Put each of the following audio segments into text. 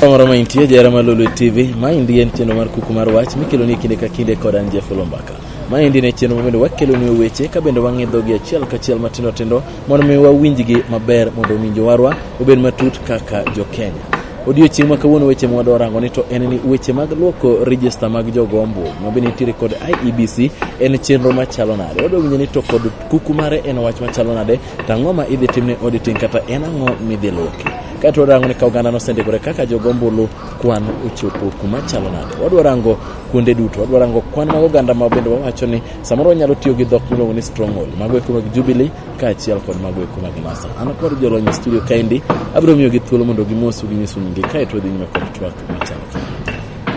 Kamoro ma intie jara ma Lulu TV, ma indi en chenro mar kuku mar wach mikelo ni kinde ka kinde kod an Jeff Lombaka. Ma indi ne chenro ma bende wakelo ni weche ka bende wang'idho gi achiel ka achiel matindo tindo mondo mi wawinjgi maber mondo winjo warwa obed matut kaka jo Kenya. Odiochieng' ma kawuono weche ma wadwa rango ni to en ni weche mag luoko register mag jogo ombulu ma bende nitiere kod IEBC en chenro machalo nade. Wadwa winjo ni to kod kuku mare en wach machalo nade To ang'o ma idhi timne auditing kata en ang'o midhi loki? Kae to warango ni ka oganda nosendikore kaka jogo ombulu kwan ochopo kuma chalo nade. Wadwa rango kuonde duto, wadwa rango kwan mag oganda ma bende wawacho ni samoro wanyalo tiyo gi dhok miluongo ni stronghold, mago eko mag Jubilee kaachiel kod mago eko mag NASA. An kod jolony e studio kaendi, abiro miyogi thuolo mondo gimosu ginyisu nyingi kae to wadhi nyime kod twak machalo kama.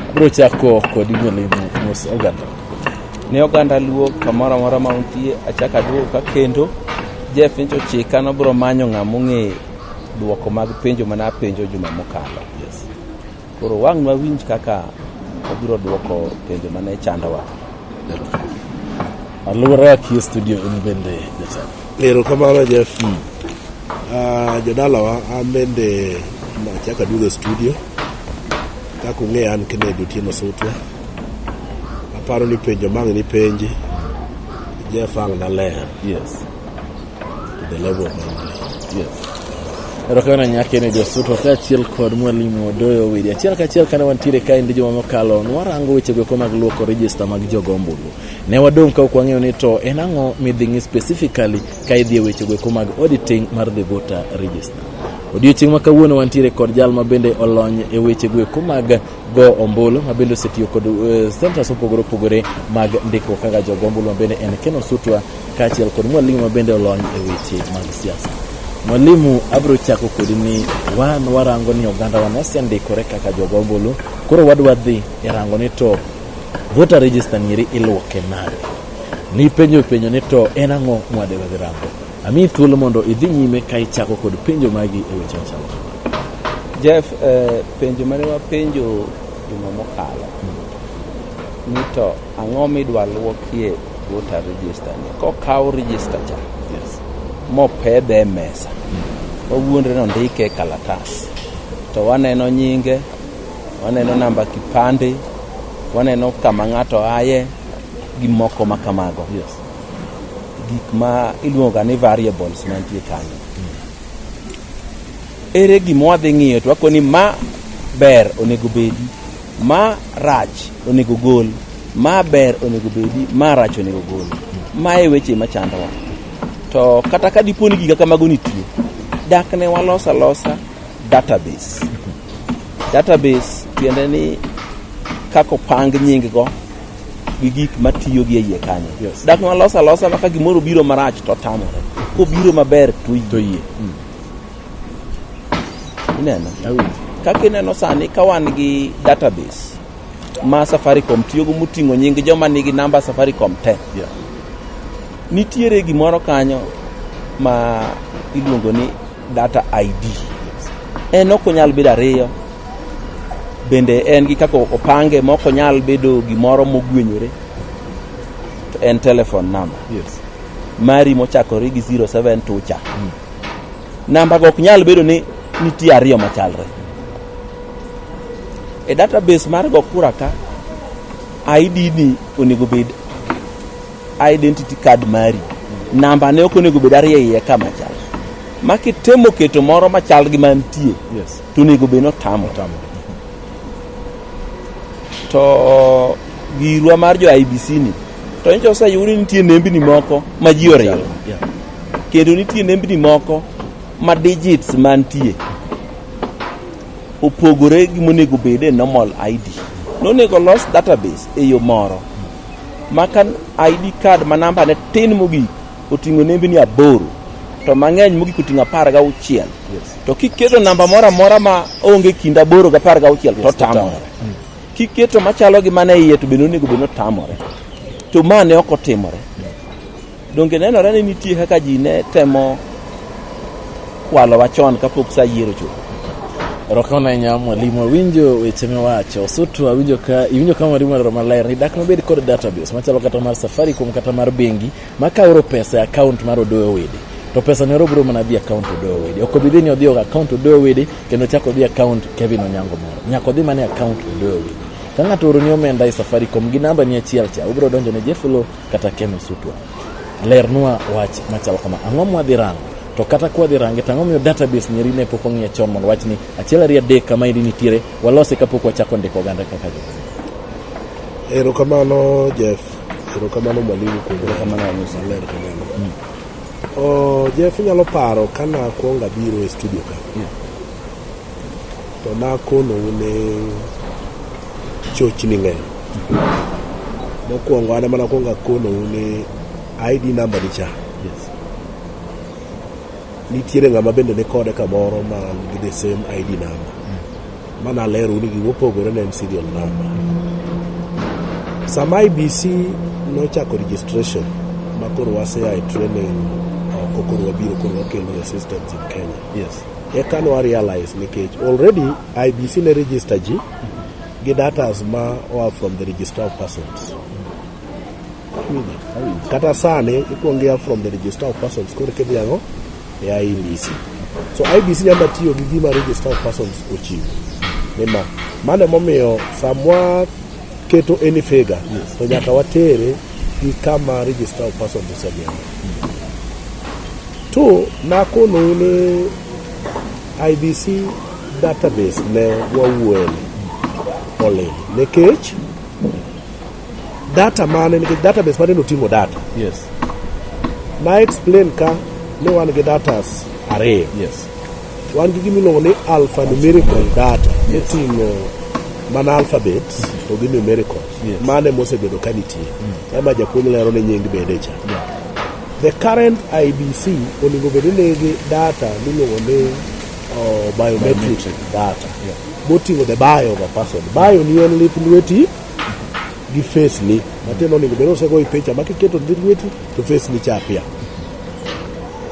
Abiro chako kod Inyalimo mos oganda. Ne oganda Luo kamoro amora ma untie, achak aduogo ka kendo Jeff nyocha ochika nobiro manyo ng'ama ong'e dwoko mag penjo mane apenjo juma mokalo. Yes. Koro wang' wawinj kaka obiro dwoko penjo mane chandowa. Aluora akie studio in bende jatelo. Erokamano Jeff. Ah, jodalawa an bende nachako aduogo e studio kaka ung'eya an Kennedy Otieno Sutwa. aparo ni penjo mang' ni penji Jeff ang' naler yes to the level of English. yes erokamano nyake ne josuto kaachiel kod mwalimu odoyo widi achiel kaachiel kane wantiere kae ndi juma mokalo nwarango wechego eko mag luoko rejista mag jogo ombulu ne wadong' ka ok wang'eyo ni to en ang'o midhi ng'i specifically ka idhi e wechego eko mag auditing mar the voter register odiochieng' ma kawuono wantiere kod jal ma bende olony e wechego eko mag go ombulu ma bende osetiyo kod eh, centers mopogore opogore mag ndikruok kaka jogo ombulu ma bende en Ken Osutwa kaachiel kod mwalimu ma bende olony e weche mag siasa. Mwalimu, abiro chako kodi ni wan warango ni oganda wa nosendikore kaka jogo ombulu, koro wadwa dhi e rango ni to voter register nieri iluoke nade? Nipenjo penjo ni to en ang'o mwadewe dhi rango? Amiyi thuolo mondo idhi nyime ka ichako kod penjo magi e weche machalo kama. Jeff, eh, penjo mane wapenjo juma mokalo ni to ang'o midwa lwokie voter register ni kokaw register cha Yes. mopedhe e mesa wawuondre ni ondike e kalatas to waneno nyinge waneno namba kipande waneno kama ng'ato aye gi moko ma kamago Yes. gik ma iluongoga ni variables mantie kanyo ere gima wadhi ng'iyo to wako ni ma ber onego bedi ma rach onego gol ma ber onego bedi ma rach onego gol ma e weche machandowa to kata ka dipo ni giga kamago nitie dak ne walos alosa database database tiende ni kako pang nying go gi gik matiyo gi e iye kanyo Yes. dak nwalos alosa maka gimoro biro marach to tamore kobiro maber to to yie ineno awinjo kaka ineno sani ka wan gi database ma safaricom tiyogo moting'o nying joma nigi namba safaricom te Yeah. nitiere gimoro kanyo ma iluongo ni Data ID en ok onyal bedo ariyo, bende en gi kaka opange ma ok onyal bedo gimoro mogwenyore, to en telephone number yes. mari mochakore gi 07 tucha mm. namba go ok nyal bedo ni nitie ariyo machalre e database mar go kura ka ID ni onego bed identity card mari namba ne ok onego bed ariyo iye ka machal ma kitemo keto moro machal gi mantie Yes. to onego bed notamo Tamo. to girwa mar jo IBC ni to nyicha oseyudi nitie nembni moko ma ji oriwo Yeah. kendo nitie nembni moko ma digits mantie opogore gi monego bed e normal ID. Nonego los database e yo moro maka ID card ma namba ne tin mogik oting'o nembni aboro to mang'eny mogik oting'o apar ga auchiel to kiketo namba moro amora ma onge kind aboro ga apar ga auchiel to tamore mm. kiketo machalo gi mane iye to bende onego bed notamore to ma ne ok otimore Donge nenore ni nitie kaka ji ne temo kwalowa chon kapok sa yiero chuth? Rokona nya mwalimu awinjo weche miwacho sotu awinjo ka iwinjo ka mwalimu alero maler ni dak nobed kod database machalo kata mar Safaricom kata mar bengi ma kaoro pesa e account mar Odoyo Wede to pesa ne obiro mana dhi account Odoyo Wede ok obi dhi ni odhi e account Odoyo Wede kendo chako odhi account Kevin Onyango moro nyaka odhi mana e account Odoyo Wede ka ng'ato oroni omenda e Safaricom gi namba ni achiel cha ubiro donjo ne Jeflo kata Ken Osutwa lernwa wach machal kama ang'o mwadhi rango to kata kwadhi range to ang'o miyo database nyeri ne pok ong'iye chon mondo wach ni achiel ariyo adek kama iri nitiere walose kapok wachako ndiko oganda kaka jo erokamano jeff erokamano mwalimu kuom Erokamano, Amusa. ler kamano mm. oh, jeff inyalo paro kana kwonga biro e studio ka Yeah. To nakonou ni chochni ng'eny. Mokwongo an ema nakwongo akonou ni ID namba ni cha. Nitiere ng'ama bende ni kode kamoro ma gi the same ID namba. Ma nalero ni gigo opogore ne en serial namba. Sama IBC nochako registration ma koro waseya e training oko koro wabiro koro wakelo e systems in Kenya. Yes. Eka nwa realize nikech already IBC ne register ji gi datas ma oa from the register of persons. Kata sani ikuongo ia from the register of persons koro kidhi ang'o e IBC. So IBC nyaka tiyo gi gima register of persons ochiwo. Nima mano emomiyo samwa keto any figure to nyaka watere gi kama register of person osegengo to nakonou ni ibc database ne wawuoye ni olil nikech data mane nikech database mane noting'o data Yes. na explain ka ni wan gi datas ariyo Yes. Wan gi gima iluongo ni alphanumerical data moting'o mana alphabets to gi numerical Yes. mane mosebedo ka nitie ema japuonj lero ni nying bede cha the current IBC onego bed ni nigi data miluongo ni uh, biometric data moting'o the bio of a person bio ni en lith lweti gi face ni matiende onego bed ni osegoyi picha ma kiketo lith lweti to face ni cha pia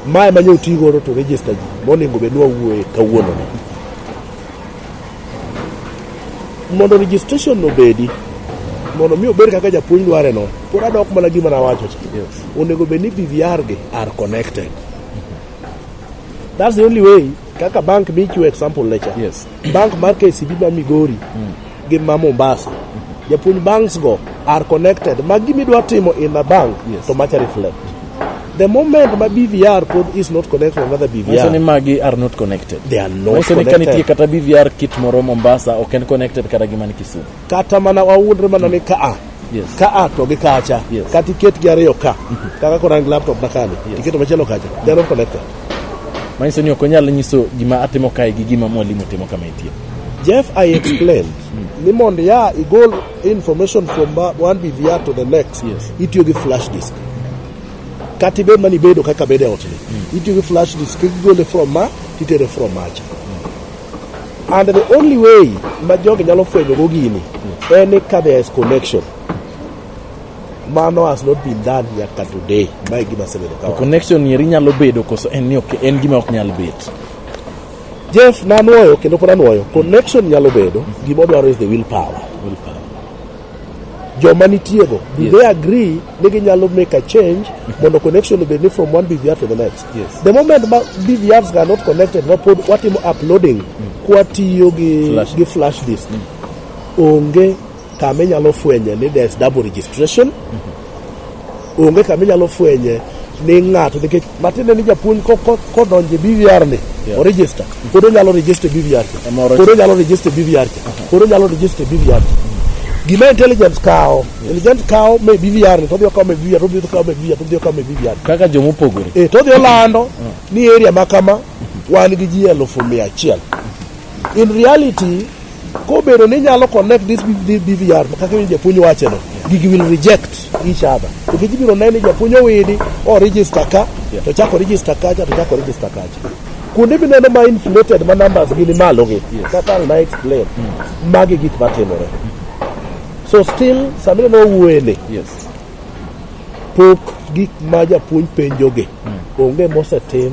Mae ma nyoti godo to register ji monego bed ni wawuoye kawuono ni. Mondo registration obedi, mondo mi obed kaka japuonj dware no, pod adok mana gima nawacho cha. Onego bed ni BVR gi are connected. That's the only way kaka bank michiwo example lecha. Yes. Bank mar KCB ma Migori gin ma Mombasa. Japuonj banks go are connected. Ma gima idwa timo in a bank Yes. to macha reflect. The moment ma BVR pod is not connected to another Manyiso ni BVR, magi are not connected. they are not Manyiso ni ka nitie connected. kata BVR kit moro Mombasa ok en connected kata gi man Kisumu. Kata mana wawuondre mana ni ka a Yes. ka a to gi kacha Yes. kata iketgi ariyo ka kaka koro an gi laptop na kani Yes. iketo machielo kacha they are not connected Manyiso ni ok onyal nyiso gima atimo kae gi gima mwalimu timo kama itie. Jeff, I explained. Ni mondo ya igol information from ba- one BVR to the next. Yes. Itiyo gi flash disk. Kata ibed mani bedo kaka bedo e ot ni. Itiyo gi flash disk kigole from ma titere from macha. And the only way ma jogi nyalo fwenyogo gini en ni ka there is connection. Mano has not been done nyaka today. Ma e gima asebedo To kawacho. connection eri nyalo bedo koso en ni ok en gima ok nyal bet. Jeff nanwoyo kendo pod anwoyo. Connection nyalo bedo, gima odwaro is the willpower. Willpower. joma nitiego do Yes. they agree ni ginyalo make a change mondo connection obed ni from one behavior to the next Yes. The moment ma BVRs are not connected, wapod watimo uploading kwatiyo gi Flash. gi flash disk. Onge kama inyalo fwenye ni there's double registration. Onge kama inyalo fwenye ni ng'ato nikech matiende ni japuonj ko- ko- kodonje BVR ni Yeah. oregister pod onyalo register BVR cha. Ema oro- pod onyalo register BVR cha. pod onyalo register BVR cha. Gima intelligence kawo Intelligent kawo me BVR ni to odhi okawo me BVR to odhi okawo me BVR to odhi okawo me BVR. Kaka joma opogore. Eh to odhi olando ni area ma kama wan gi ji elufu mia achiel. In reality kobedo ni inyalo connect this B- BVR kaka ni japuonj wacho no gigi will reject each other. To gigi biro neno ni japuonj owidi o register ka to chako register kacha to chako register kacha. Kuonde mineno ma inflated ma numbers gi ni malo gi kaka na explain magi gik matimore. So still samira no wuele. Yes. Pok gik ma japuonj penjoge mm. onge mosetim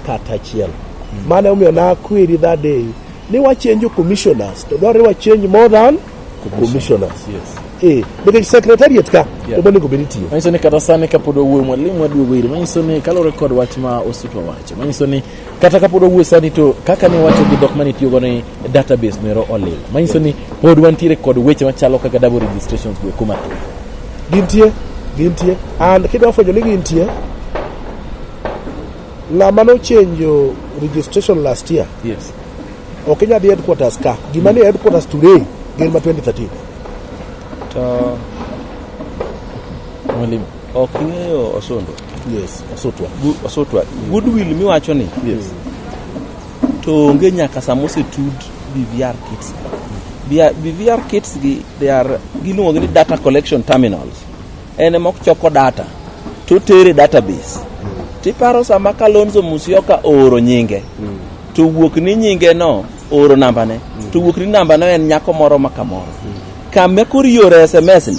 kata achiel. Mm. Mane omiyo na query that day ni wachenjo commissioners to dwarore wachenj more than commissioners. Yes. Eh, bende secretariat ka yeah. to onego bed itiyo. Manyiso ni kata sani kapod owuoyo mwalimu aduogo iri manyiso ni kalore kod wach ma osuto wacho manyiso ni kata kapod wawuoyo sani to kaka ne wacho gi dhok mane itiyogo ni database nero olil manyiso ni pod wantiere kod weche machalo kaka double registrations go kuma thuth gintie gintie and kidwa fwenyo ni gintie ng'ama nochenjo registration last year yes ok inyal dhi headquarters ka gima ni headquarters today gin ma 2013 to mwalimu Ok ing'eyo Osundwa? Yes, Osutwa. Gu- Osutwa. Goodwill miwacho ni. Yes. To onge nyaka sama osetud BVR kits. Bia- BVR kits gi they are giluongo ni data collection terminals. En ema ochoko data to tere database. Tiparo sama Kalonzo Musyoka ooro nyinge to wuok ni nyinge no ooro nambane to wuok ni nambano en nyako moro ma kamoro. Kama koro iore SMS ni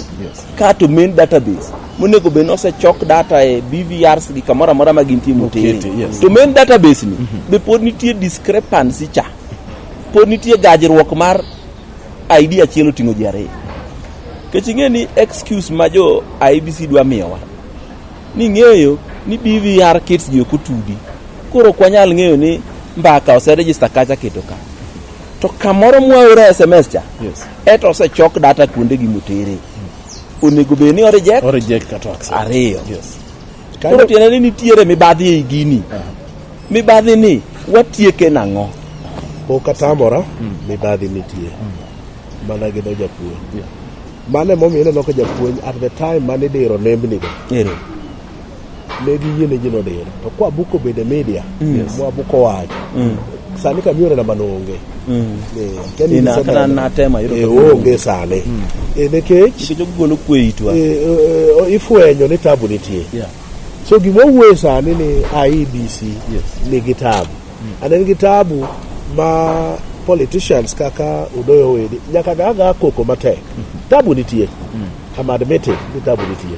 Ka to main database monego bed nosechok data e BVRs gi kamoro amora ma gintie motere. Yes. To main database ni mm -hmm. be pod nitie discrepancy cha. Pod nitie gajruok mar ID achiel oting'o ji ariyo. Kech ing'e ni excuse ma jo IBC dwa miyowa ni ng'eyo ni BVR kits ji ok otudi. Koro ok wanyal ng'eyo ni mbaka oserejista kacha keto ka. To kamoro mwaora SMS cha. Yes. Eto osechok data kuonde gi motere. Onego bed ni o reject. O reject kata accept. Ariyo. Yes. Koro tiende ni nitiere mibadhi ei gini. Uh -huh. Mibadhi ni watieke nang'o? Pok atamora mm. mibadhi nitie. Mm. Mana gi do japuonj. Yeah. Mane momiyo ineno ka japuonj at the time mane idiro nembni go. Ero. Yeah. ne giyie ne ji nodira to kwa buko bende media mwa buko wacho sani kamiore namba noonge Eh, akia ni Ina, gise kata neno. natemo, yudo Eh, ka onge. onge sani Eh, nikech Nikech ogolo kwe itwa. eh, eh, eh, ifwenyo ni tabu nitie Yeah. so gima wuoye sani ni IEBC Yes. nigi tabu and en gi tabu ma politicians kaka Udoyo Wedi nyaka gaga koko matek tabu nitie I'm admitting ni tabu nitie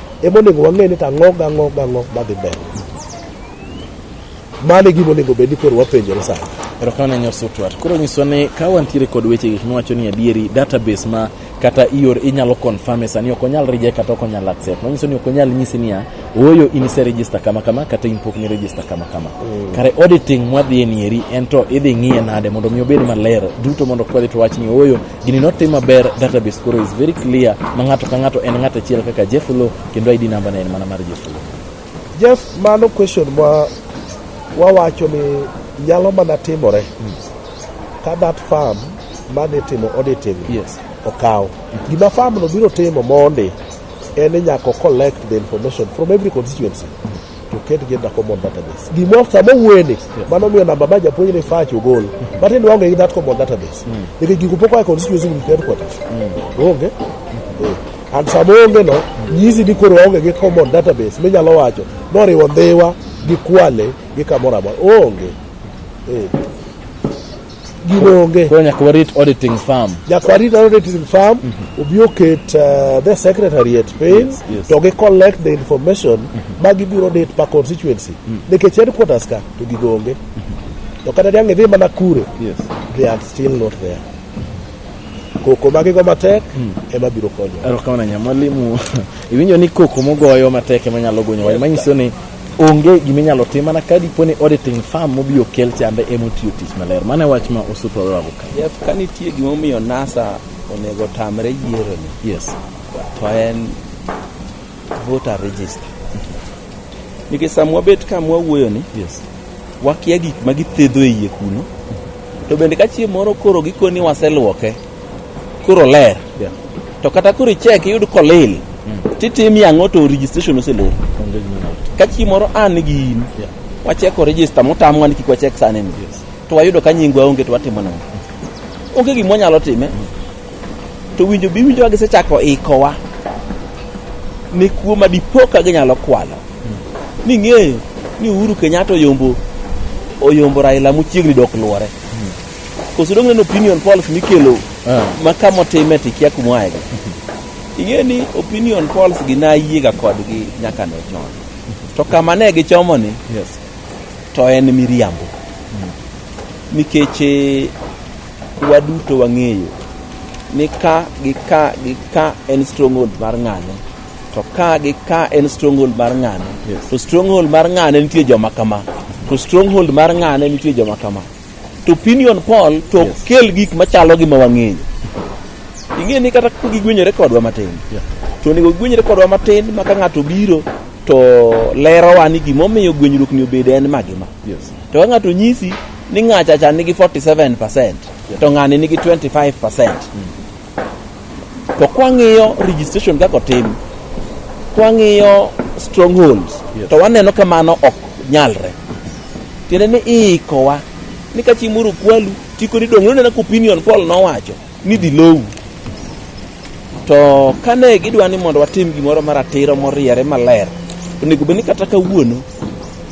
ema onego wang'e ni to ang'o gang'o gang'o madhi mbele mano e gima onego bed ni koro wapenjore sani erokamano nyar sotwat koro nyiswa ni ka wantiere kod weche gik miwacho ni adieri database ma kata ior inyalo confirm e sani ok onyal reject kata ok onyal accept manyiso ni ok onyal nyisi niya ooyo in ise register kama kama kata in pok ni register kama kama mm. kare auditing mwadhi e nieri en to idhi ng'iye nade mondo mi obed maler duto mondo kwadhi to wach ni ooyo gini notim maber database koro is very clear ma ng'ato ka ng'ato en ng'ato achiel kaka Jeff Lo kendo ID number ne en mana mar Jeff Lo. Jeff, mano question ma wawacho ni nyalo mana timore ka that farm mane timo auditing Yes. okaw gima farm no biro timo mondi en ni nyaka o collect the information from every constituency to ket gin na common database. Gimoro sama wueni yeah. mano miyo namba ma japuonj ni fach ogol. Mm. But in waonge gi that common database. Mm. Nikech gigo pok oa constituency with headquarters. Mm. Onge. Mm. Eh. And sama onge no nyisi ni koro waonge gi common database minyalo wacho noriwo dhiwa gi kwale gi kamoro amora. Onge. Eh. gino onge. Koro nyaka warit auditing firm. Nyaka warit auditing firm, mm -hmm. obi oket uh, the secretariat piny, yes, yes. to gi collect the information mm -hmm. ma gibiro dit pa constituency. Mm -hmm. Nikech headquarters ka, to gigo onge. Mm -hmm. To kata niang' idhi mana kure, yes. they are still not there. Koko magigo matek mm. ema biro konyo. Erokamano nya mwalimu. Iwinjo ni koko mogoyo matek ema nyalo gonyo. Yes, manyiso ni Onge gima inyalo tim mana ka dipo ni auditing firm mobi okel chambe ema otiyo tich maler. Mano e wach ma Osuto owago ka. Jeff, ka nitie gima omiyo NASA onego otamre yieroni, Yes. to en voter register. Nikech sama wabet ka mwawuoyoni, Yes. wakia gik ma githedho e iye kuno, to bende ka chieng' moro koro gikoni waseluoke, koro ler to kata koro ichek iyud kolil titim yang'o to registration oselor ka chi moro an gi in wacheko register motamwa ni kik wachek sani ni to wayudo ka nyingwa onge to watimo nang'o onge gima wanyalo time to winjo bi winjowa gisechako ikowa ni kuo ma dipo ka ginyalo kwalo ni ng'eyo ni Uhuru Kenyatta oyombo oyombo Raila mochiegni dok luore Koso dong' neno opinion polls mikelo Ah. ma ka motime to ikia kuma oaye go. Ing'e ni opinion polls gi nayiega kodgi nyaka ne chon. To kama ne gichomo ni Yes. to en miriambo. Nikech eh, waduto wang'eyo ni ka gi ka gi ka en stronghold mar ng'ane to ka gi ka en stronghold mar ng'ane Yes. to stronghold mar ng'ane nitie joma kama to stronghold mar ng'ane nitie joma kama to opinion poll to ok Yes. kel gik machalo gi ma wang'eyo ing'e ni kata ka gigwenyore kodwa matin Yeah. to onego gigwenyore kodwa matin ma ka ng'ato biro to lerowa ni gimomiyo gwenyruok ni obedo en ma gi ma Yes. to ka ng'ato nyisi ni ng'achacha nigi 47 to ng'ani nigi 25 To kwang'iyo registration kaka otim, kwang'iyo strongholds, yes. to waneno ka mano ok nyalre. Tiende ni iikowa ni ka chi moro kwalu chiko ni dong' nonena ka opinion Paul nowacho ni dhi lowu. To kane gidwa ni mondo watim gimoro maratiro moriere maler, onego bed ni kata kawuono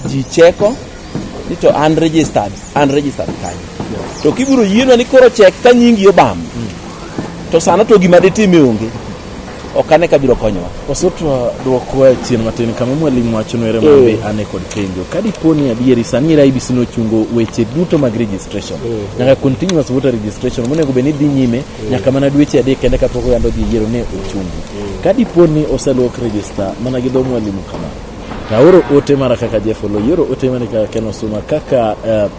ji cheko ni to an registered an registered kanyo to kibiro yienwa ni koro chek ka nyingi obam to sano to gima ditime onge ok ane ka biro konyowa osutwa dwoko e chien matin kama mwalimu wacho nwere Eh. mabe ane kod penjo ka dipo ni adieri sani era ibc nochungo weche duto mag registration nyaka continuous voter registration monego bed ni dhi nyime nyaka mana dweche adek kende kapok oyando dhi yiero ne ochungi ka dipo ni oselok register mana gi dho mwalimu kama Aoro ote mara kaka Jeff Olo, ioro ote mara kaka Ken Osuma, kaka eh,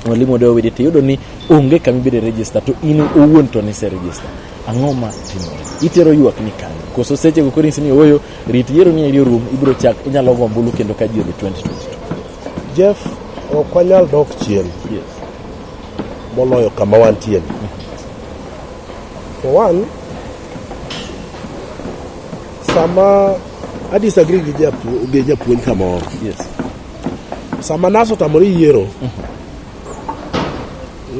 Mwalimu Odewa Widi to iyudo ni onge kama ibiro register to in owuon to nise register. Ang'o ma timore? Itero ywak ni kanye? Koso seche go koro inyisi ni ooyo rit yiero ni eri orum ibiro chak inyalo go ombulu kendo ka ji odhi 2022. Jeff, ok wanyal dok chien Yes. moloyo kama wantie ni. For one, Sama a disagree gi japuonj gi japuonj kamoro. Yes. Sama nas otamore yiero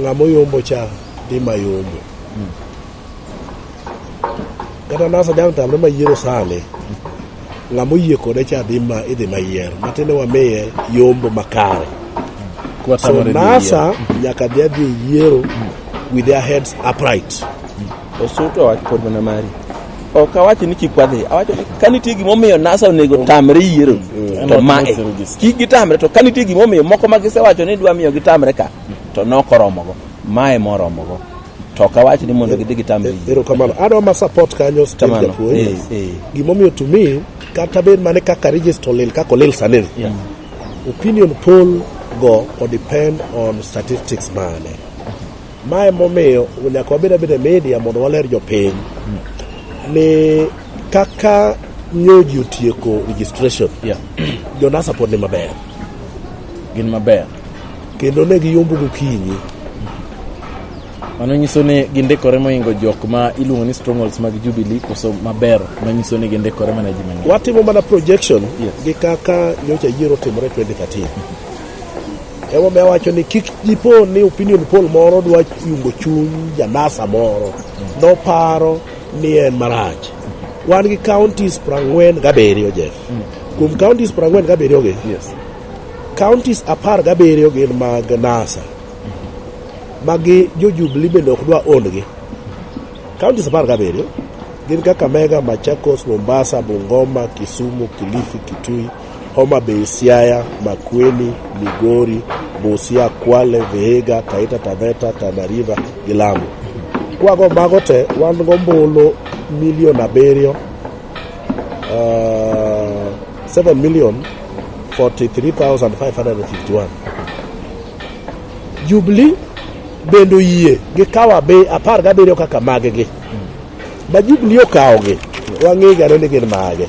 ng'ama oyombo cha dhi mayombo. Kata nas ajang tamre mayiero sani ng'ama oyie kode cha dhi ma idhi mayier matiende wamiye yombo makare. So Kwatamore ni nasa nyaka dhi adhi e yiero with their heads upright. Osuto wach pod mana mari. Ok awacho ni kik wadhi, awacho ni ka nitie gimomiyo NASA onego tamre yiero mm. to ma e. Kik gitamre to ka nitie gimomiyo moko ma gisewacho ni dwa miyo gitamre ka to nokoromogo. Ma e moromogo. To ok awach ni mondo gidhi gitamre yiero. Erokamano. Adwa ma support kanyo still japuonj. Eh, eh. Gimomiyo to me kata bed mane kaka register olil kaka olil sani. Yeah. Opinion poll go or depend on statistics mane. Mae momiyo nyaka wabed abeda media mondo waler jopiny ni kaka nyoji otieko registration yeah. jonasa pod ni maber gin maber kendo ne giyombo gokinyi mano nyiso ni gindikore moingo jok ma iluongo ni strongholds mag jubilee koso maber manyiso ni gindikore mana ji mang'eny watimo mana projection yes. gi kaka nyocha yiero timore 2013 Emomiyo awacho ni kik dipo ni opinion poll moro dwa yungo chuny janasa moro noparo ni en marach. Wan gi counties prang'wen gabiriyo Jeff. Kuom counties prang'wen gabiriyo gi, Yes. counties apar gabiriyo gin mag NASA. Magi jo Jubilee bende ok dwa own gi. Counties apar gabiriyo gin Kakamega, Machakos, Mombasa, Bungoma, Kisumu, Kilifi, Kitui, Homa Bay, Siaya, Makueni, Migori, Busia, Kwale, Vihiga, Taita Taveta, Tana River gi Lamu. Kwago mago te wan gombulu milion abiriyo uh, 7 million 43,551. Jubilee bende oyie gi kawa be apar gabiriyo kaka maggi ma Jubilee okawogi wang'ega ni gin mage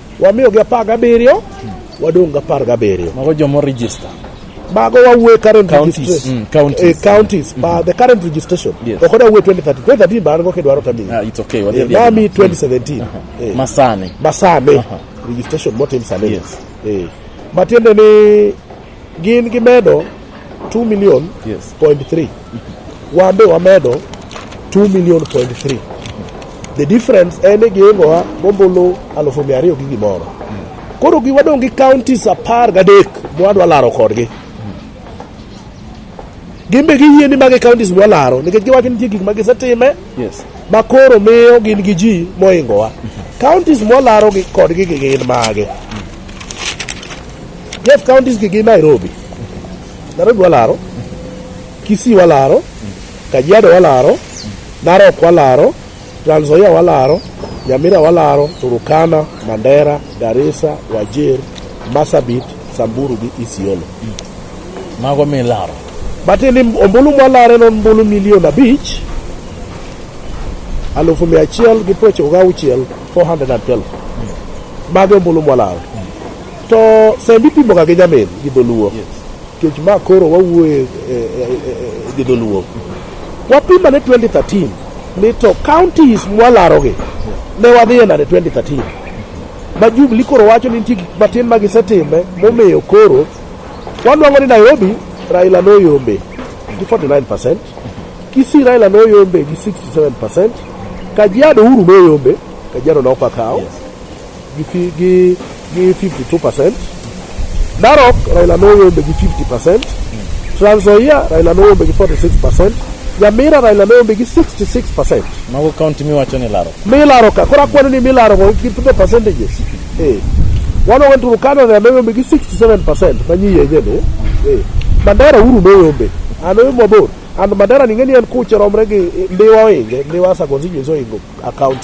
Wamiyogi apar gabiriyo, wadong' gapar gabiriyo. Mago joma orejista. Mago wawuoye current Counties, registration. mm, counties. Eh, counties, but the current registration. Yes. Ok wadawuoye 2013. 2013 baan go kidwaro tamiyi. Ah, it's okay. Wadhi Eh, adhiya. Nami 2017. Eh. Masani. Masani. Registration motim sani. Yes. Eh. Matiende ni Gin gimedo 2 million yes. point 3. Wan be wamedo 2 million point 3. The difference en ni gihingowa gombulu alufu mia ariyo gi gimoro. Koro gi wadong' gi counties apar gadek mwadwa laro kodgi. Gin be giyie ni magi counties mwa laro nikech giwacho nitie gik ma gisetime yes. ma koro miyo gin gi ji mohingowa. Counties mwa laro gi kodgi gi gin mage. Jeff counties gi gin Nairobi. Nairobi walaro, Kisii walaro, Kajiado walaro, Narok walaro, Trans Nzoia walaro, Nyamira walaro, Turukana, Mandera, Garissa, Wajir, Marsabit, Samburu gi Isiolo. Mago milaro. Batili ombulu mwalare non ombulu milion abich alufu mia achiel gi prochiko gauchiel 412 mago ombulu mwalare To send ipimo ga gi nyamin gi dholuo. Kech ma koro wawuoye eh, eh, eh, gi dholuo. Wapima ne 2013 ni to counties mwalarogi ne wadhiye nade 2013. Ma Jubilee koro wacho ni nitie gik matin ma gisetime momiyo koro wanwang'o ni Nairobi Raila noyombe gi 49%, Kisii Raila noyombe gi 67%, Kajiado Uhuru noyombe, Kajiado nokakawo. gi fi- gi gi 52 percent narok raila noyombe gi 50 percent trans nzoia raila noyombe gi 46 percent nyamira raila noyombe gi 66 percent Mago county miwacho ni laro. milaro ka koro akwano ni milaro go gi the percentages eh wano went to Canada raila noyombe gi 67 percent manyi yenye ni eh mandera uru noyombe ano yo mabor and mandera ningeni en kuche romre gi eh, ndiwa oinge ndiwa sagonzi nyiso ingo account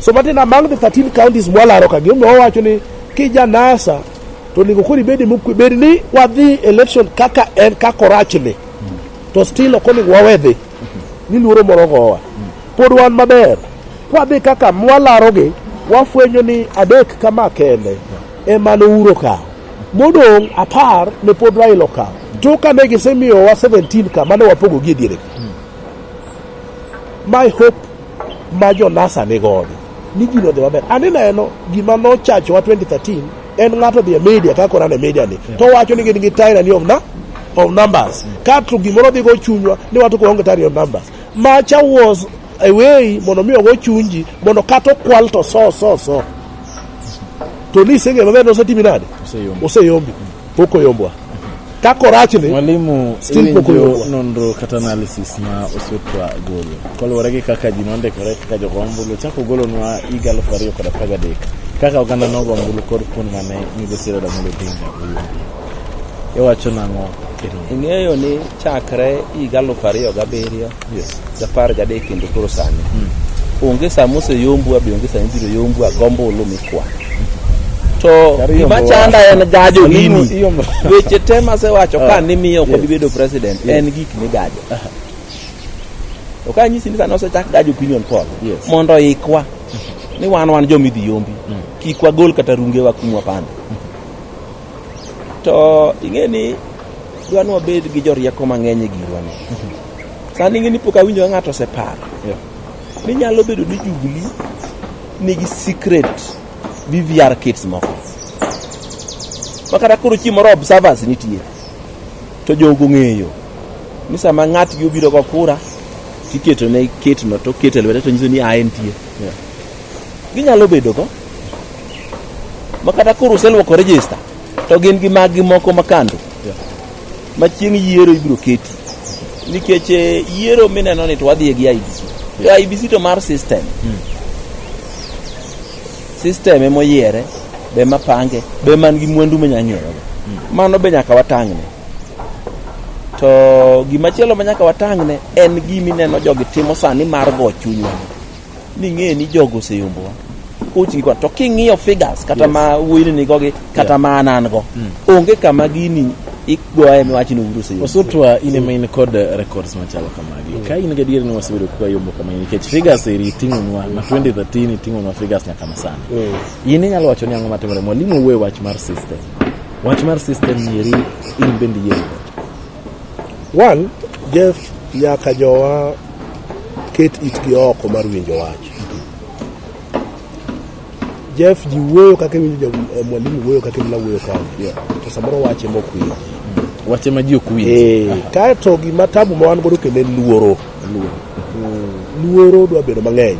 So Martin, among the 13 counties mwalaro ka gima wawacho ni kija NASA to onego koro ibedi mokwe bed ni wadhi election kaka en kaka orachni to still ok onego wawe dhi ni luoro moro gowa pod wan maber kwadhi kaka mwalarogi wafwenyo ni adek kama kende ema nouro kawo modong' apar ne pod Raila okawo to kane gisemiyowa 17 ka mane wapogogi e diere my hope ma jo-NASA ni godo ni gini odhi maber. An ineno gima nochachowa 2013 en ng'ato odhi e media kaka orano e media ni to wacho ni gin gi tyranny of, na, of numbers kato gimoro dhigo chunywa ni wato kuonge tyranny of numbers macha was a way mondo mi ogo chunji mondo kata okwal to so so so to ni iseng'eyo maber nosetimi nade Oseyombi. oseyombi Pok oyombwa. Ka korach ni, Mwalimu, Still pok iwinjo oyombwa. nonro kata analysis ma osutwa golo koluwore gi kaka ji nondikore kaka jogo ombulu chako ogolonwa higa alufu ariyo kod apar gadek kaka oganda nogo ombulu kod kuond mane migosi Raila Amolo Odinga oyudoe. Iwacho nang'o? Ero. ing'eyo ni chakre higa alufu ariyo gabiriyo Japar gadek kendo koro sani onge saa moseyombwa be onge saa mibiro yombwa gombo ulu mikwa to gima chanda en gajo gini weche te masewacho ka nimiyo kod bedo president en gik migajo to ka nyisi ni sani osechak gajo opinion poll Yes. mondo ikwa ni wan wan joma idhi yombi kik wagol kata rungewa kumwa panda to ing'e ni dwa ni wabed gi jorieko mang'eny e girwani Sani ing'e ni pok awinjo ka ng'ato oseparo yeah. ni nyalo bedo ni jubili nigi secret VVR kits moko ma kata koro chieng' moro observers nitie to jogo ng'eyo ni sama ng'atgi obiro go kura tiketo ne kitno to keto e lwete to nyiso ni a entie yeah. ginyalo bedo go ma kata koro uselwoko register to gin gi maggi moko makando yeah. ma chieng' yiero ibiro keti nikech eh, yiero mineno ni to wadhiye gi IBC to IBC to mar system system ema oyiere be ma pange be man gi mwandu manya ng'eyogo mano be nyaka watang'ne to gimachielo ma nyaka watang'ne en gimineno jogi timo sani mar go chunywa ming'e ni jogo oseyombowa coach gi to king'iyo figures kata yes. ma wuoyini nigo gi kata yeah. ma anan go mm. onge kama gini igoye miwachi ni uru seyombo osutwa in ema in kod uh, records machalo kamagi mm. ka in gadier ni wasebedo kwa yombo kama nikech figures eri ting'onwa ma 2013 iting'onwa figures nyaka masani mm. in inyalo wacho ni ang'o matimore mwalimu wuoye wach mar system wach mar system eri in bende yiero One, Jeff nyaka jowa ket itgi oko mar winjo wach. Jeff ji wuoyo kaka iwinjo ja- eh, mwalimu wuoyo kaka imla wuoyo kani. Yeah. To samoro wache mok winji. Wache ma ji ok winj. Eh, kaeto gima tabu ma wan godo kendo en luoro. Luoro dwa bedo mang'eny.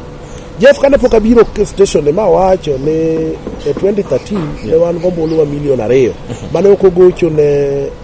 Jeff kane pok abiro k- station ne ma wacho ni e 2013 ne wan gombulu wa milion ariyo mane ok ogocho ne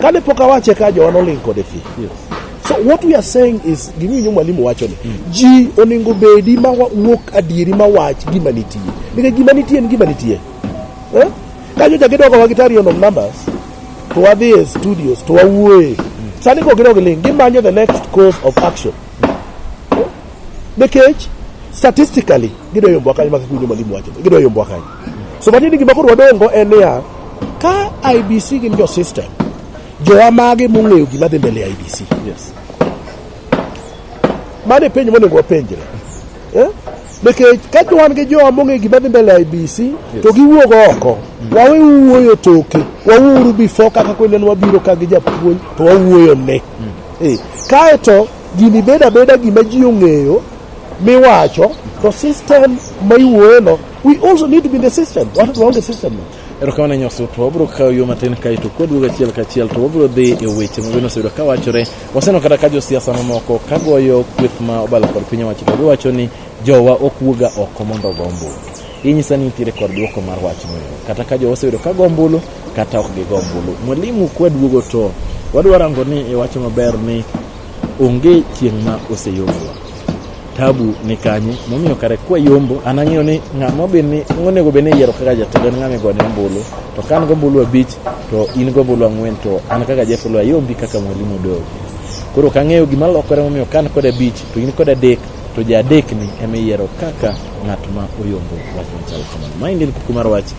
Kane pok awache ka jowa noling kode fi. Yes. So what we are saying is ging'inyo mwalimu wacho ni mm. ji oningo bedi ma wuok adieri ma wach gima nitie. Nikech gima nitie en gima nitie. Eh? Kanyo ja gidogo wa gitari on numbers. To wadhi e studios to wawuoye. Mm. Sani ko gidogo ling gimanyo the next course of action. Eh? Nikech statistically gidoyo mbwa kanyo makikunyo mwalimu wacho. Gidoyo mbwa kanyo. So matiende gima koro wadongo en niya, ka IBC gin jo system, jowa mage mong'eyo gima dhi mbele IBC? Yes. Mane penjo monego wapenjre. Eh? Nikech ka to wan gi jowa mong'eyo gima dhi mbele IBC to giwuog oko, wawe wuoyo toke, wawuoru before kaka kwende ne wabiro ka gi japuonj to wawuoyo ne. Eh. Kae to gini beda beda gima ji ong'eyo miwacho to system ma iwuoyono We also need to be in the system. Watu tuwaunge system. Erokamano nyoso to wabiro kawo yo matin kaeto koduogo achiel kachiel to wabiro dhi e weche ma bende oseyudo ka wachore. Waseneno kata ka josiasa mamoko ka goyo kweth ma obalo kod piny owacho to giwacho ni jowa ok wuoga oko mondo ogo ombulu. Inyisa ni nitiere kod dwoko mar wachno. Kata ka jowa oseyudo ka go ombulu kata ok gigo ombulu. Mwalimu kwaduogo to wadwa rango ni iwacho maber ni Onge chieng' ma oseyombowa. Tabu ni kanye momiyo kare kwa yombo an ang'eyo ni ng'ama obed ni onego bed ni iyiero kaka jatelo en ng'ama igone ombulu to ka an gombulu abich to in gombulu ang'wen to an kaka Jeff Oloo ayombi kaka mwalimu Odogo. Koro ok ang'eyo gima lokore momiyo ka an kod abich to in kod adek to ja adek ni ema iyiero kaka ng'at ma oyombo wach machal kamano. Maendi en kuku mar wach.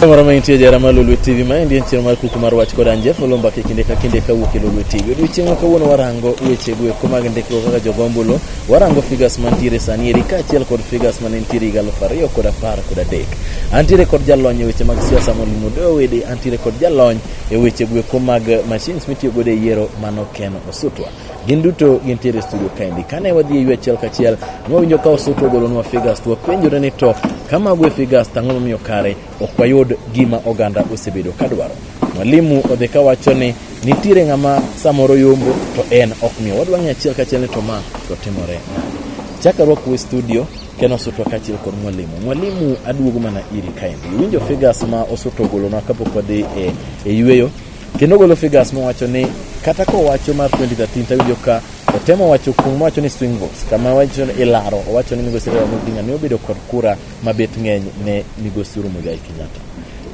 Kamoro ma intie jara ma Lolwe TV ma endi en chieng' mar kuku mar wach kod Anjef Olomba ke kinde ka kinde ka wuok e Lolwe TV. Odiochieng' ma kawuono warango weche go eko mag ndikruok kaka jogombulo, warango figures mantiere sani eri kaachiel kod figures mane nitiere higa aluf ariyo kod apar kod adek. Antiere kod jalony e weche mag siasa Molimo Doe Owede, antiere kod jalony e weche go eko mag machines mitiyo godo e yiero mano Ken Osutwa. Gin duto gintiere e studio kaendi. Kane wadhi e yue achiel kachiel, ne wawinjo ka Osutu ogolonwa figures to wapenjore ni to ka mago e figures to ang'o momiyo kare ok wayud gima oganda osebedo ka dwaro. Mwalimu odhi ka wacho ni nitiere ng'ama samoro yombo to en ok miyo. Wadwa ng'e achiel kachiel ni to ma to timore nade. Chaka rwaku e studio Ken Osutu kaachiel kod mwalimu. Mwalimu aduogo mana iri kaendi. Iwinjo figures ma Osutu ogolonwa kapok wadhi e, e yueyo Kendo ogolo figures mowacho ni kata kowacho mar 2013 tawinjo ka otemo wacho kuom wacho ni swing votes kama wacho ni ilaro owacho ni migosi Raila Amolo Odinga ne obedo kod kura mabet ng'eny ne migosi Uhuru Muigai Kenyatta.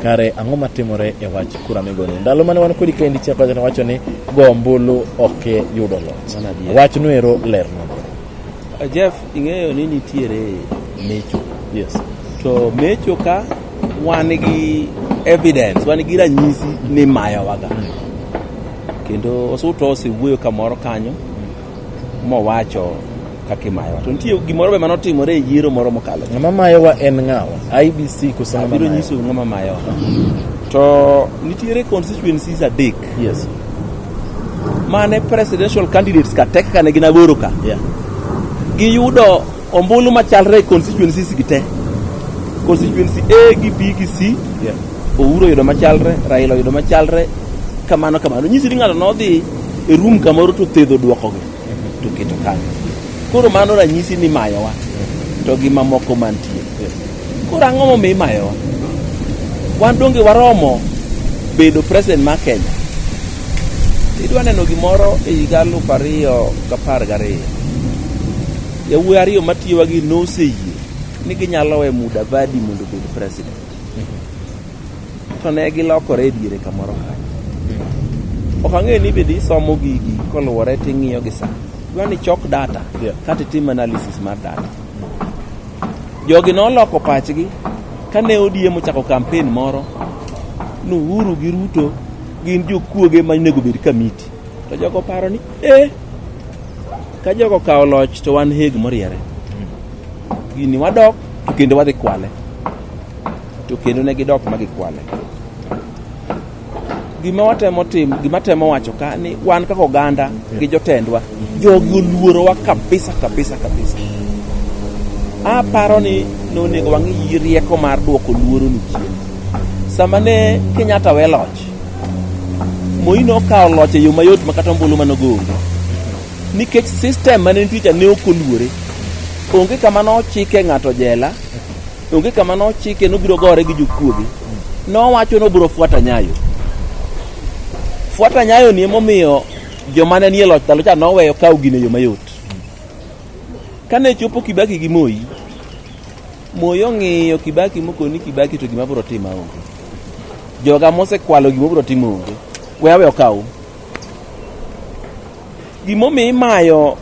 Kare ang'o matimore e wach kura migoni? Ndalo mane wan kodi kendi Chakwera wacho ni go ombulu ok yudo loch. Wachno ero ler nade? Jeff, ing'eyo ni nitiere mecho. Yes. To mecho ka wan gi evidence, wan gi ranyisi ni mayowaga. Kendo Osuto osewuoyo kamoro kanyo mowacho kaka imayowa. To nitie gimoro be mane otimore e yiero moro mokalo. Ng'ama mayowa en ng'awa? IBC koso ng'ama Abiro mayowa? nyisou ng'ama mayowa. To nitiere constituencies adek Yes. mane presidential candidates ka tek kane gin aboro ka yeah. giyudo ombulu machalre e constituencies gi te constituency A gi B gi C yeah. Ouro oyudo machalre Raila oyudo machalre kamano kamano nyisi ni ng'ato nodhi e room kamoro to thedho dwokogi to keto kanyo koro mano ranyisi ni mayowa to gi mamoko mantie koro ang'o momiyo imayowa wan donge waromo bedo president mar kenya idwa neno gimoro e higa aluf ariyo gapar gariyo yawuoyi ariyo matiyowa gi noseyie ni ginyalo we mudavadi mondo obed president To ne gilokore e diere kamoro kanyo. Ok ang'eyo ni bende isomo gigi koluwore to ing'iyo gi sa. Dwa ni chok data Yeah. kata itim analysis mar data. Jogi noloko pachgi kane ODM ochako kampen moro ni Uhuru gi Ruto gin jokuoge ma onego bed kamiti. To jogo paro ni eh ka jogo kawo loch to wan heg moriere. Gini wadok to kendo wadhi kwale. to kendo ne gidok ma gikwale. Gima watemo timo, gima temo wacho ka ni wan kaka oganda gi jotendwa, jogi oluorowa kabisa kabisa kabisa. Aparo ni nonego wang'i rieko mar duoko luoro ni chien. Sama ne Kenyatta we loch, Moi nokawo loch e yo mayot ma kata ombulu mane ogo onge. Nikech system mane nitie cha ne ok oluore. Onge kama nochike ng'ato jela, Onge kama nochike nobiro gore gi jokuoge. Nowacho nobiro fuata nyayo. Fuata nyayo ni emomiyo joma ne nie loch ndalo cha noweyo kawo gino e yo mayot. Kane chopo Kibaki gi Moi, Moi ong'iyo Kibaki mokoni Kibaki to gima biro timo onge. Joga mosekwalo gima biro timo onge. We awe okaw. Gimomiyo imayo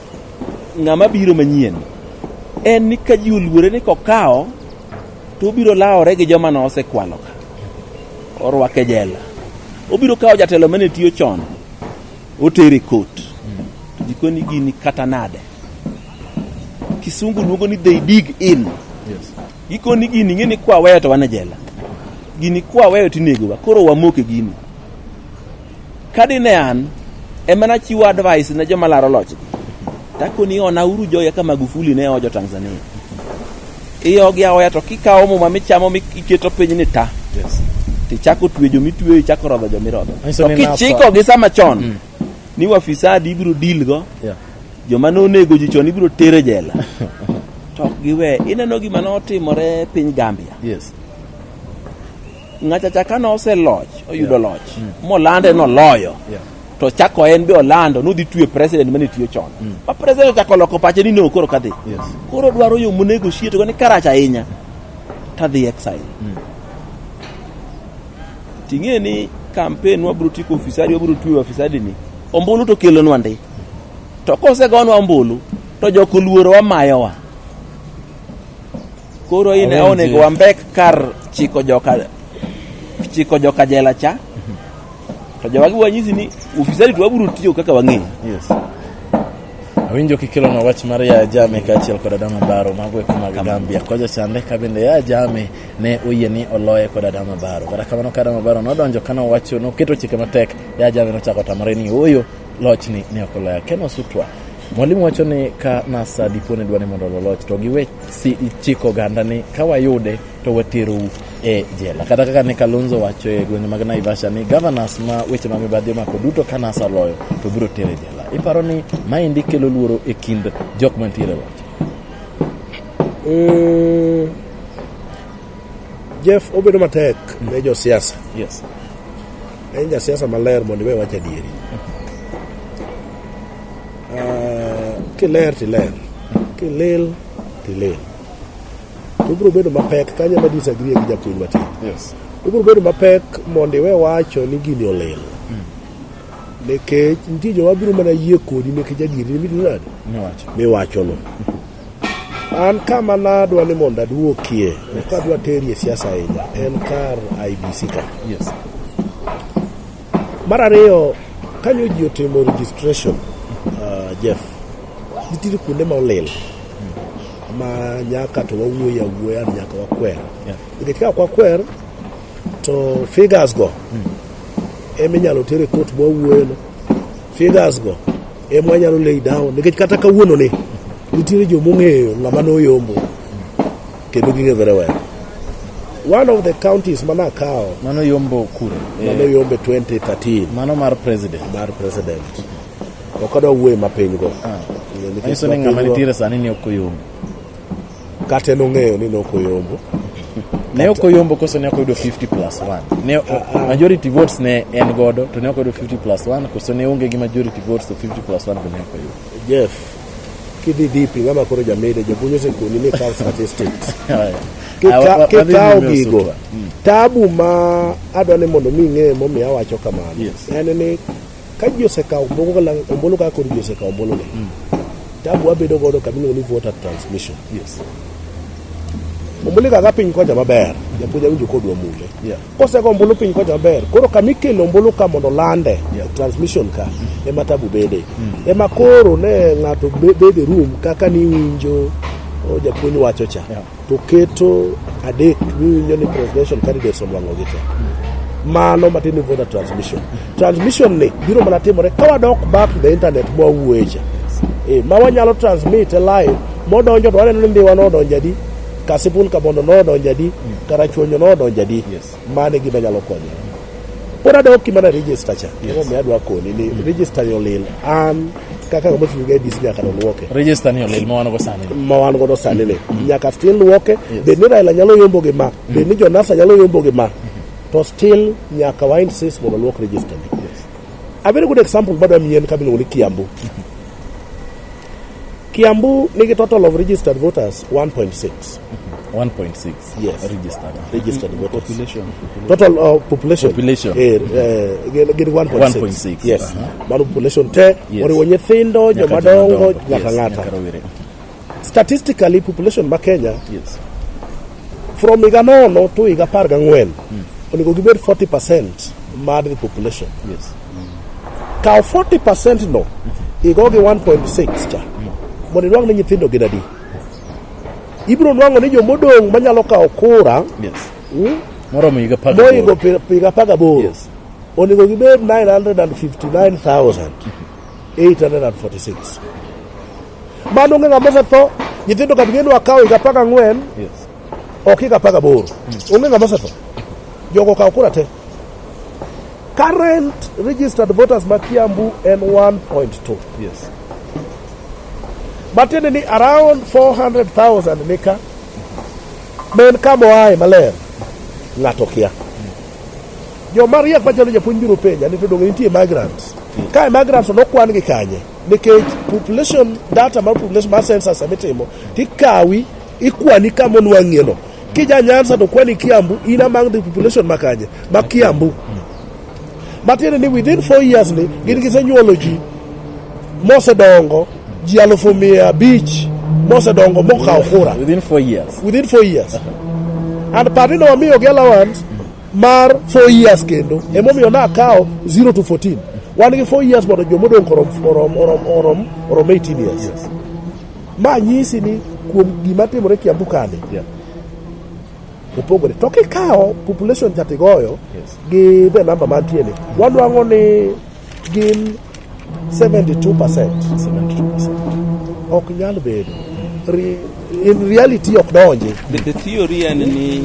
ng'ama biro manyien en ni ka ji oluore ni kokawo to obiro lawore gi joma nosekwalo ka orwake jela obiro kawo jatelo mane tiyo chon otere kot to jikoni gini kata nade kisungu luongo ni they dig in gikoni gini ng'e ni kwaweyo to wan e jela gini kwaweyo tinegowa koro wamoke gini Ka dine an ema nachiwo advice ne joma laro lochgi, takoni ona uru joya ka Magufuli ne ojo Tanzania. Iyogi aoya to kikawo muma michamo miketo piny ni ta. Yes. Tichako twe jo mitweyo, ichako rodho jo mirodho. Manyiso To ni nafsa. kichiko gi sama chon Mm. ni wafisadi ibiro deal go, Yeah. joma nonego ji chon ibiro tere jela. To ok giwe. Ineno gima notimore piny Gambia. Yes. Ng'achacha kane oseloch oyudo loch molande noloyo Yeah. to chako en be olando nodhi twe president mane tiyo chon ma president ochako loko pache ni no koro kadhi Yes. koro dwaro yo monego shiet go ni karach ahinya tadhi exile ting'e ni campaign wabro tiko ofisadi wabro twe ofisadi ni ombulu to kelonwa ndi to kosegonwa ombulu to jokoluoro wamayowa Koro in Awenji. onego wambek kar chiko joka chiko joka jela cha. To jowagi wanyisi ni ufisadi to wabiro tiyo kaka wang'eyo. Yes. Awinjo kikelonwa wach mar Yaya Jame kaachiel kod Adama Baro mago eko mag Gambia. Kocha chande ka bende Yaya Jame ne oyie ni oloye kod Adama Baro. Kata kamano ka Adama Baro nodonjo ka nowacho noketo chike matek, Yaya Jame nochako tamore ni ooyo lochni ne ok oloya. Ken Osutwa Mwalimu wacho ni ka NASA dipo ni dwani mondo loloch to giwe si chiko oganda ni ka wayude to waterou e jela. Kata kaka ne Kalonzo wacho e gwenge mag Naivasha ni governors ma weche ma mibadhi omako duto ka NASA loyo to biro tere jela. Iparo ni maendi kelo luoro e kind jok mantiere loch? Mm, Jeff obedo matek ne josiasa. Yes. En jasiasa maler mondo iwe wach adieri. Ah, kiler tiler, kilil tilil. To ibiro bedo mapek kanyo ma disagree gi japuonj matin. Yes. Ibiro bedo mapek mondo iwe wacho ni gini olil. Nikech nitie joma biro mana yie kodi nikech adieri ni midinade Niwacho. miwachono. An kama nadwa ni mondo aduokie, ok adwa terie siasa ahinya, en kar IBC ka. Yes. Mar ariyo, kanyo ji otimo registration, uh, Jeff, nitiere kuonde ma olil ma nyaka to wawuoye awuoya ni nyaka wakwer. Yeah. Nikech ka ok wakwer, to figures go eminyalo ter e court mwawuoyono. Figures go Ema anyalo lay down nikech kata kawuono ni nitiere jo mong'eyo ng'ama noyombo kendo ging'e very well. One of the counties mana akawo Mano yombo kure. mano Eh, yombe 2013 Mano mar president. mar president ok adwa wuoye mapiny go Ah. Nikech Manyiso ni ng'ama mapinygo- nitiere sani ni ok oyombo. Kata en ong'eyo ni nok oyombo. Ne ok oyombo koso ne ok oyudo 50 plus 1. Ne majority votes ne en godo to ne ok oyudo 50 plus 1 koso ne onge gi majority votes to 50 plus 1 be ne ok oyudo. Jeff, kidhi dipi ng'ama koro jamede japuonj osekoni ni kaw statistics. Haya. Ah, wa- wa- Kikaw wadhi kikaw nyime gigo, usutwa. Mm. tabu ma adwa ni mondo mi ing'e momiyo awacho kamano Yes. en ni ka ji osekawo moko kala ombulu kaka koro ji osekawo ombulu ni mm. tabu wabedo godo kama iluongo ni voter transmission yes ombulu kaka piny kocha maber japuonj awinjo kodwa mule yeah. kosego ombulu piny kocha maber koro kama ikelo ombulu ka mondo lande yeah. transmission ka mm. ema tabu bede mm. ema koro ne ng'ato bede room kaka niwinjo oh, japuonj wacho cha yeah. to keto adek miwinjo ni presidential candidates onwang'ogi te mano matin ni voter transmission transmission ni biro mana timore ka wadok back to the internet mwawuoyecha e, ma wanyalo transmit e live modonjo to waneno ni ndiwa nodonjo adi kasipul kabondo nodonjo adi karachuonyo nodonjo adi Mano e gima nyalo konyo. Pod adok gima na register cha. Gima omiyo adwa koni ni register ni olil. An kaka ng'ama ochung' e DC nyaka nolwoke. Register ni olil ma wan go sani. ma wan godo sani ni nyaka still lwoke bed ni Raila nyalo yombo gi ma bed ni Jonasa nyalo yombo gi ma to still nyaka wa insist mondo lwok register ni a very good example madwa mien ka miluongo ni Kiambu Kiambu nigi total of registered voters 1.6 1.6 Yes. registered Registered voters. population Total uh, population. Population. Eh, eh, gin- gin 1.6. 1.6, Yes. aha. Mano population te Yes. oriwo nyithindo, Nyaka joma dongo, jomadongo. nyaka Yes, nyaka ng'ata. rowere. Statistically population ma Kenya yes from higa nono to higa apar gang'wen onego gibed 40 percent mar the population yes kaw 40 percent no igogi 1.6 cha mondo inuang' ni nyithindo gin adi ibiro nwang'o ni jomodong' manyalo kawo kura Yes. mm, Moromo higa apar gaboro. moingo pi- piga apar gaboro Yes. onego gibed 959,846 mano onge ng'ama osetho nyithindo kata geno akawo higa apar gang'wen Yes. ok higa apar gaboro onge ng'ama osetho jogo okawo kura te Current registered voters ma Kiambu en 1.2. Yes. Matiende ni around 400,000 nika men kama oaye maler ng'ato kia. Joma riek machalo japuonj biro penja ni to donge nitie migrants. Ka migrants to nokwan gi kanye? Nikech population data mar population mar census mitimo tikawi ikwani kama onwang'ieno. Kija Nyanza to kwani Kiambu in among the population makanye ma Kiambu matiende ni within four years ni gin gisenyuolo ji mosedongo ji alufu mia abich mosedongo mokawo kura Within four years. within four years and party no wamiyo gi allowance mar four years kendo emomiyo nakawo 0 to 14 wan gi four years mondo jomodong' orom, orom, orom, orom, orom 18 years Ma nyisi ni kuom gima timore Kiambu kani yeah. opogore to kikawo population chatigoyo yes. gi the number mantie ni wadwang'o ni gin 72 percent ok nyal bedo in reality ok donji the, the theory en ni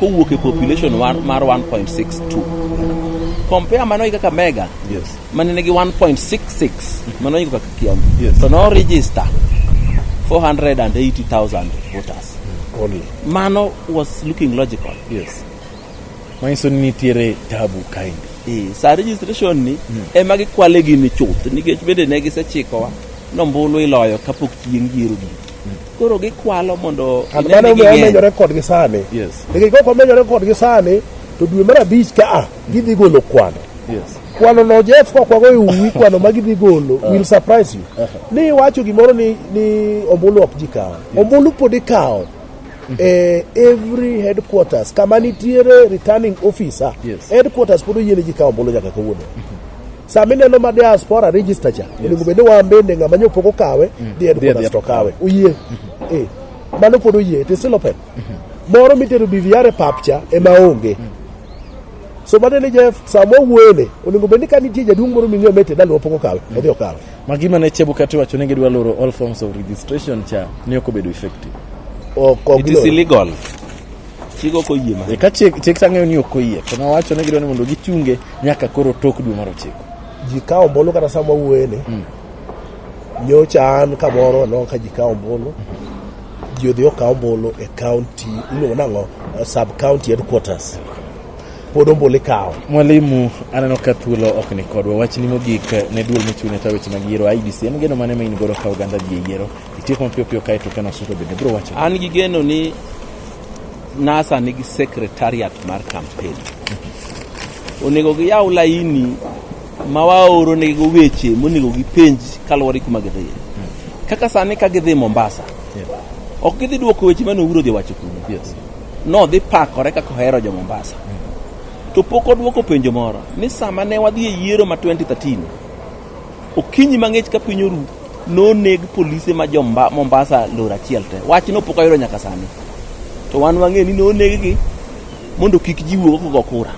kowuok e population mar 1.62 compare mano gi kaka mega yes. mane nigi 1.66 mano gi kaka kiambu yes. to no register 480,000 voters Only. mano was looking logical yes. manyiso ni nitiere tabu kaendi e, sa registration ni mm. ema gikwale gini chuth nikech bende ne gisechikowa nombulu iloyo kapok chieng' yiero gini Koro gikwalo mondo And mano omiyo wamenyore kodgi sani. Yes. Nikech kok wamenyore kodgi sani, to dwe mar abich ka a, gidhi golo kwano. Yes. Kwano no Jeff kok wago e uwi kwano ma gidhi golo will surprise you. Ni iwacho gimoro ni ni ombulu ok ji kawo. Ombulu pod ikawo. Eh, every headquarters kama nitiere returning officer Yes. headquarters pod oyiene ji kawo ombulu nyaka kawuono Sama ineno ma diaspora register cha, onego bed ni wan bende ng'ama nyo pok okawe, mm. dhi headquarters to kawe. Uyie. Mm-hmm. Eh. Mano pod oyie, it is still open. Mm-hmm. Moro mitero BVR e pap cha ema onge. Mm. So mano ni Jeff, sama wuone, onego bed ni ka nitie jaduong' moro ming'eyo mete dalwa pok okawe, mm. odhi okawe. Ma gima ne Chebukati wacho ni gidwa loro all forms of registration cha ne ok obedo effective. Ok, ok. It is illegal. Chik ok oyie ma. E ka chik chik tang'eyo ni ok oyie, to nawacho ni gidwa ni mondo gichunge nyaka koro tok dwe mar ochiko. Ji kawo ombulu kata sama wawuoyeni. Mm. Nyocha an kamoro aneno ka ji kawo ombulu. Ji odhi okawo ombulu e kaunti iluongo nang'o sub county headquarters. Pod ombulu ikawo. Mwalimu, aneno ka thuolo ok ni kodwa. Wachni mogik ne duol mochung' ne tayo weche mag yiero IEBC. En geno mane ma in godo ka oganda dhi e yiero? Itieko mapiyo piyo kae to kano suto bende biro wacho. An gi geno ni NASA nigi secretariat mar campaign. Onego giyaw laini ma waoro nego weche monego gipenj kaluwore kuma gidhiye. Kaka sani ka gidhi Mombasa, ok gidhi duoko weche mane Uhuru odhi wacho kuno. Yes. Nodhi pakore kaka ohero jo Mombasa. To pok odwoko penjo moro ni sama ne wadhi e yiero ma 2013 Okinyi mang'ich ka piny oru noneg polise ma jo Mombasa lor achiel te. Wachno pok ayudo nyaka sani. To wan wang'e ni noneggi mondo kik ji wuog kogo kura.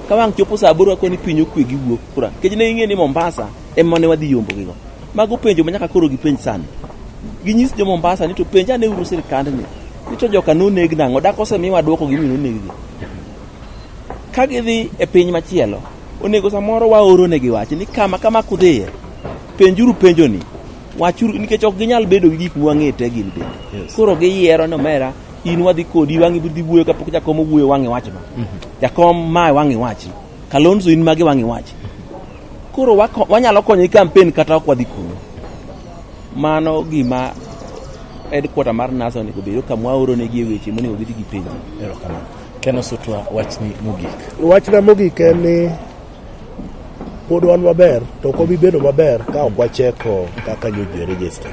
Ka wang' chopo saa aboro akoni piny okwe gi wuok kura. Nikech ne ing'e ni Mombasa ema ne wadhi yombo gigo. Mago penjo ma nyaka koro gipenj sani. Ginyis jo Mombasa ni to penj ane uru sirkandni. Ni to joka noneg nang'o? Dak osemiwa dwoko gimomiyo noneggi. Ka gidhi e piny machielo Onego samoro waoro ne gi wach ni kama kama kudhiye. Penjuru penjo ni. Wachuru nikech ok ginyal bedo gi gik mwang'ete gin be. Yes. Koro giyiero no mera in wadhi kodi wang'i budhi wuoyo kapok jakom owuoyo wang'i wach no. Mm -hmm. Jakom ma wang'i wach. Kalonzo in magi wang'i wach. Koro wako, wanyalo konyo i campaign kata ok wadhi kuno. Mano gima headquarter mar NASA onego obed ka mwaoro ne gi weche monego gidhi gipenjo. Erokamano. Ken Osutwa, wachni mogik. Wachna mogik en ni pod wan maber to ok wabi bedo maber ka ok wacheko kaka nyoji e register.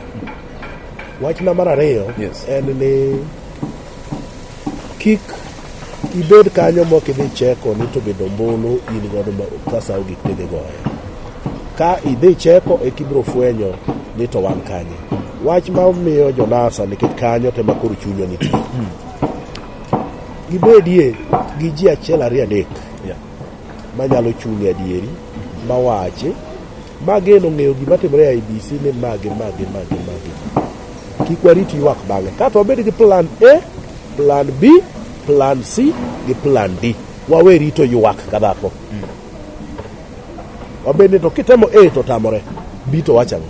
Wachna mar ariyo Yes. en ni kik ibed kanyo mok idhi cheko ni to bedo ombulu in godo ma- ka sa ogik tidhi goyo. Ka idhi cheko e kibiro fwenyo ni to wan kanye. Wach ma miyo jonasa nikech kanyo tema koro chunywa nitie. Gibedie gi ji achiel ariyo adek manyalo chungi adieri mawachi mageno ng'eyo gima timore e IBC ni mage mage mage mage kik warit ywak bang'e kato wabed gi plan A plan B plan C gi plan D wawe rito ywak ka dhako wabed ni to kitemo A to tamore B to wachang'o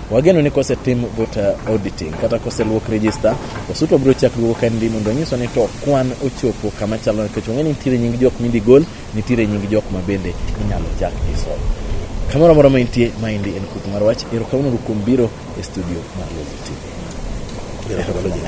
Wageno ni kosetim voter auditing kata koseluok register, Osutu biro chak duogo kendi mondo onyiswa ni to kwan ochopo kama chalo nikech ong'e ni nitiere nying jok midhi gol, nitiere nying jok ma bende inyalo chak iso. Kamoro amora ma intie, ma endi en kuku mar wach. Erokamano kuom biro e studio mar Lulu TV. Erokamano.